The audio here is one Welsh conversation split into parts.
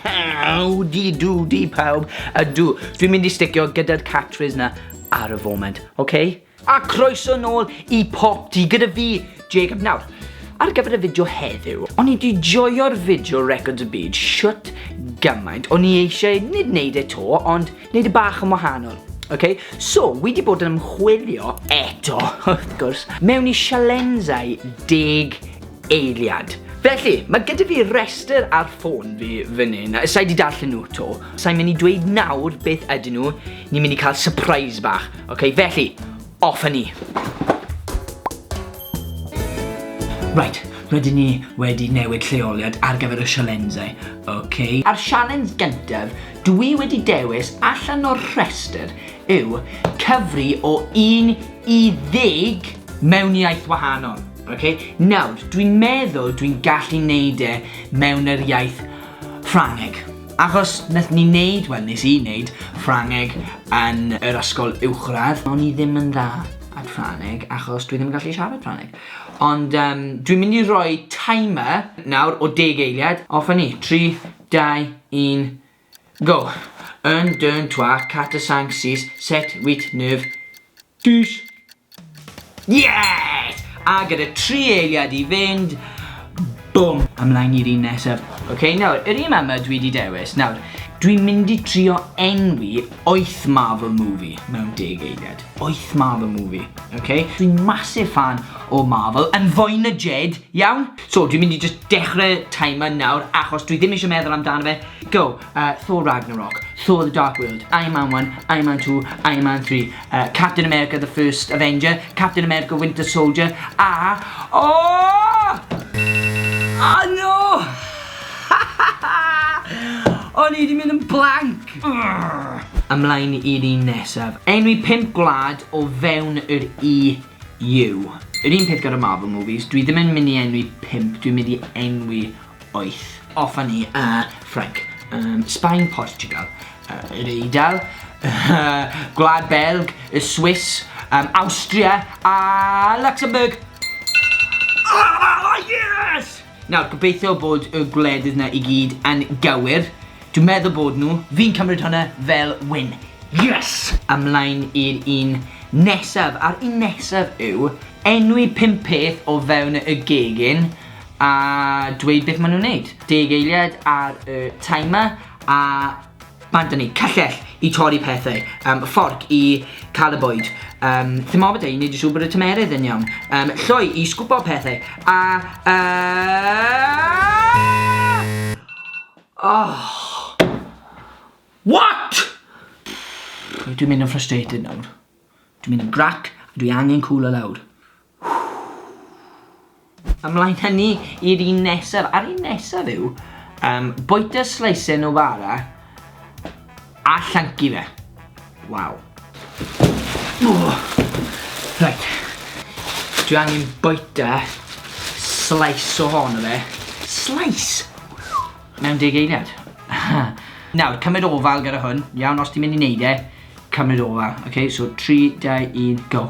Howdy doody pawb. Ydw, dwi'n mynd i sticio gyda'r catchphrase na ar y foment, oce? Okay? A croeso nôl i Pop Di gyda fi, Jacob Nawr. Ar gyfer y fideo heddiw, o'n i di joio'r fideo Records y Byd shwt gymaint. O'n i eisiau nid wneud e to, ond wneud y e bach yn wahanol. Okay? So, wi di bod yn ymchwilio eto, wrth gwrs, mewn i sialenzau deg eiliad. Felly, mae gyda fi restr ar ffôn fi fan hyn, a sa i 'di darllen nhw 'to. Sa i'n mynd i dweud nawr beth ydyn nhw, ni'n mynd i cael surprise bach. Ok, felly, off â ni. Right, rydyn ni wedi newid lleoliad ar gyfer y sialensau, ok? A'r sialens gyntaf dwi wedi dewis allan o'r rhestr yw cyfri o un i ddeg mewn iaith wahanol. Ok, nawr, dwi'n meddwl dwi'n gallu neud e mewn yr iaith Ffrangeg. Achos nath ni neud, wel nes i neud, Ffrangeg yn yr ysgol uwchradd. O'n i ddim yn dda at Ffrangeg achos dwi ddim yn gallu siarad Ffrangeg. Ond yym dwi'n mynd i roi timer nawr o deg eiliad. Off a ni. Tri, dau, un. Go! Un, deux, trois, quatre, cinq, six, sept, huit, neuf, dix! Yes! A gyda tri eiliad i fynd, bum! Ymlaen i'r un nesaf. Ok, nawr, yr un ma ma dwi di dewis. Nawr, dwi'n mynd i trio enwi oeth Marvel movie mewn deg eiliad. Oeth Marvel movie, ok? Dwi'n massive fan o Marvel, yn fwy na Jed, iawn? So, dwi'n mynd i jyst dechrau timer nawr, achos dwi ddim eisiau meddwl amdano fe. Go, uh, Thor Ragnarok, Thor the Dark World, Iron Man 1, Iron Man 2, Iron Man 3, uh, Captain America the First Avenger, Captain America Winter Soldier, a... Oh! Oh no! O'n i wedi mynd yn blank! Ymlaen i'r un nesaf. Enwi pimp gwlad o fewn yr i Yw. Yr un peth gyda Marvel movies, dwi ddim yn mynd i enwi pump, dwi'n mynd i enwi wyth. Offa ni, yy, Ffrainc. Yym, Sbaen, Portiwgal. Yy, yr Eidal. Gwlad Belg, y Swiss, yym, Awstria, a Luxembourg! Ahh! Yes! Nawr, gobeithio bod y gwledydd 'na i gyd yn gywir. Dwi'n meddwl bod nhw. Fi'n cymryd hwnna fel win. Yes! Ymlaen i'r un nesaf, a'r un nesaf yw enwi pum peth o fewn y gegin a dweud beth maen nhw'n neud. Deg eiliad ar y timer a Mae da ni cyllell i torri pethau, um, fforc i cael y bwyd, um, thermometer i wneud yn siŵr bod y tymerydd yn iawn, um, lloi i sgwbo pethau, a... Uh... Oh. What?! Dwi'n mynd yn frustrated nawr. Dwi'n mynd yn grac, a dwi angen cwlo lawr. Ymlaen hynny ni i'r un nesaf, a'r un nesaf yw um, bwyta sleisau Novara a llancu fe. Waw. Oh. Right. Dwi angen bwyta slice o hon o fe. Slice? Mewn deg eiliad. Nawr, cymryd ofal gyda hwn, iawn, os ti'n mynd i wneud e, cymryd ofal. Ok, so 3, 2, 1, go.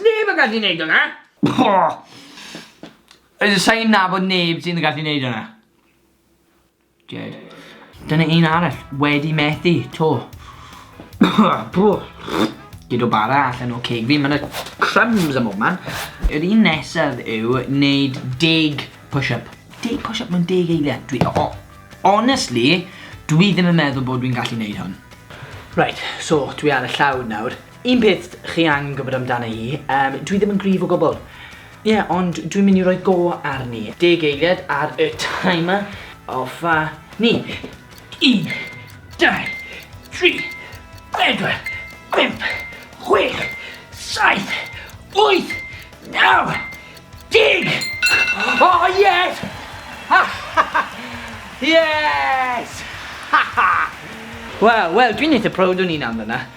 Neb yn gallu wneud hwnna! Sa'n nabod neb sy'n gallu wneud hwnna. Jed. Dyna un arall, wedi methu, to. Bro. Gyd o bara allan o ceg fi, mae yna crumbs am bob man. Yr un nesaf yw wneud deg push-up. Deg push-up mewn deg eiliad. Dwi, o, oh, honestly, dwi ddim yn meddwl bod dwi'n gallu wneud hwn. Right, so dwi ar y llawr nawr. Un peth chi angen gwybod amdana i, um, dwi ddim yn gryf o gwbl. Ie, yeah, ond dwi'n mynd i roi go arni. Deg eiliad ar y timer. Offa ni. Un, dau, tri, bedwar, bimp, chwech, saith, wyth, naw, deg! Oh, yes! yes! Wel, wel, dwi'n eitha proud o'n i'n amdana.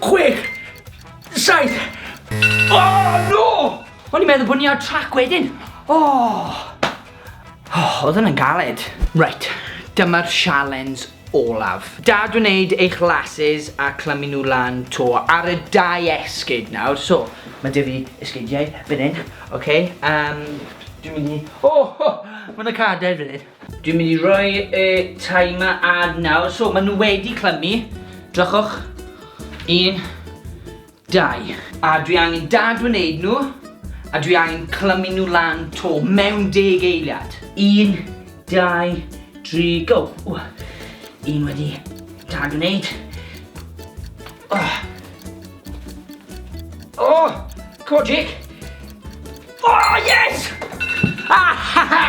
Chwech! Saith! O, no! O'n i'n meddwl bod ni ar trac wedyn. O! O, oedd yna'n galed. Right, dyma'r sialens olaf. Da dwi'n neud eich lases a clymu nhw lan to ar y dau esgyd nawr. So, mae dy fi esgydiau fan hyn, oce? Okay? Um, dwi'n mynd i... O, oh, oh, mae yna cadair fan hyn. Dwi'n mynd i roi y timer ar nawr. So, maen nhw wedi clymu. Drychwch. Un, dau. A dwi angen dadwneud nhw, a dwi angen clymu nhw lan to mewn deg eiliad. Un, dau, dri, go. Un wedi dadwneud. Oh! Oh! Cogic! Oh, yes! Ah, ha, ha!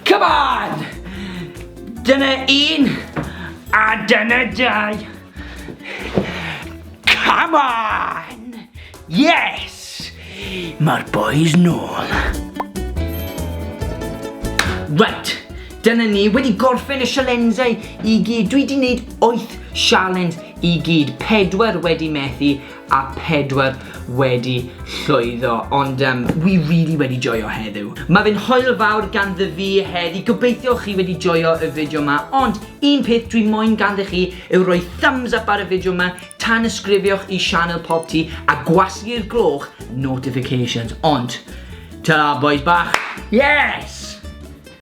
Come on! Dyna un, a dyna dau. Come on! Yes! Mae'r boys nôl. Right, dyna ni wedi gorffen y sialensau i gyd. Dwi wedi gwneud 8 sialens i gyd, pedwar wedi methu a pedwar wedi llwyddo, ond um, wi really wedi joio heddiw. Mae fe'n hoel fawr ganddo fi heddi, gobeithio chi wedi joio y fideo yma, ond un peth dwi moyn ganddo chi yw rhoi thumbs up ar y fideo yma, tan ysgrifioch i Sianel Pop Ti a gwasgu'r gloch notifications, ond ta boys bach, yes!